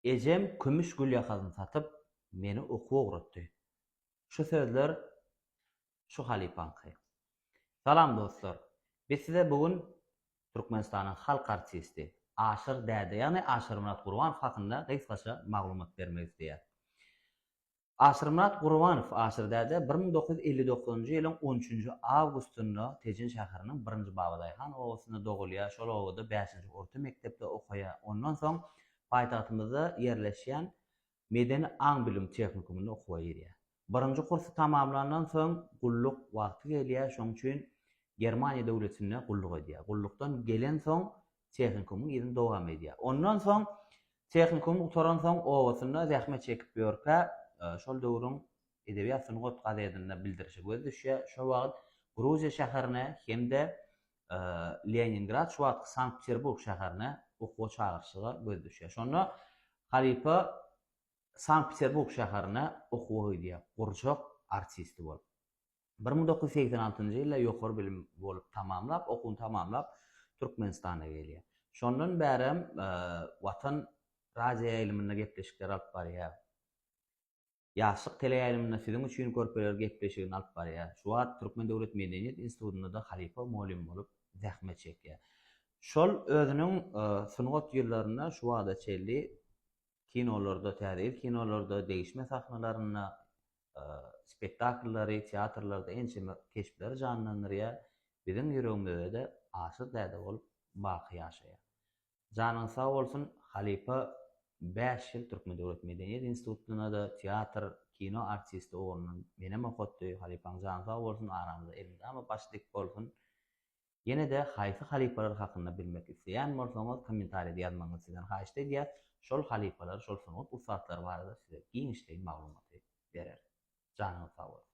Ejem kümüş gülýakazyny satyp, meni okuwa ugratdy. Şu sözler şu halypaňky. Salam dostlar! Biz size bu gün Türkmenistanyň halk artisti Aşyr däde ýagny Aşyrmyrat Gurbanov hakynda gysgaça maglumat bermek isleýäris. Asyrmyrat Gurbanow Asyrdäde bir müň dokuz ýüz elli dokuzynjy ýylyň on üçünji awgustynda Tejen şäheriniň birinji Babadaýhan obasynda dogulýar, şol obada bäşinji orta mekdepde okaýar, ondan soň paýtagtymyzda ýerleşýän Medeni aň-bilim tehnikumynda okuwa girýär. Birinji kursy tamamlandan soň gulluk wagty gelýär, şonuň üçin Germaniýa döwletinde gulluk edýär. Gullukdan gelensoň tehnikumyň yzyny dowam edýär. Ondan soň tehnikumy gutaransoň obasynda zähmet çekip ýörkä, şol döwrüň Edebiýat sungat gazetinde bildirişe göz düşýär. Şo wagt Gruziýa şäherine hem-de Leningrad, şu wagtky Sankt-Peterburg şäherine okuwa çagyryşyga göz düşýär. Şonda halypa Sankt-Peterburg şäherine okuwa gidýär, gurjak artisti bolup. Bir müň dokuz ýüz segsen altynjy ýylda ýokary bilim bolup tamamlap, okuwyny tamamlap, Türkmenistana gelýär. Şondan bärem Watan radioýaýlymynda gepleşikler alyp barýar. Ýaşlyk teleýaýlymynda Siziň üçin körpeler gepleşigini alyp barýar. Şu wagt Türkmen döwlet medeniýet institutynda-da halypa mugallym bolup zähmet çekýär. Şol özüniň sungat ýyllarynda şu wagta çenli kinolarda, Täze ýyl kinolarda, degişme sahnalarynda spektakllary, teatrlarda ençeme keşpleri janlandyrýar, biziň ýüregimizde-de Aşyr däde bolup baky ýaşaýar. Janyňyz sag bolsun, halypa bäş ýyl Türkmen döwlet medeniýet institutynda-da teatr, kino artisti ugrundan menem okatdy, halypaň jany sag bolsun, aramyza elmydama baş dik bolsun. Ýene-de haýsy halypalar hakynda bilmek isleýän bolsaňyz kommentarýada ýazmagyňyzy sizden haýyşt edýäs, şol halypalar, şol sungat ussatlary barada size giňişleýin maglumaty bereris. Janyňyz sag bolsun!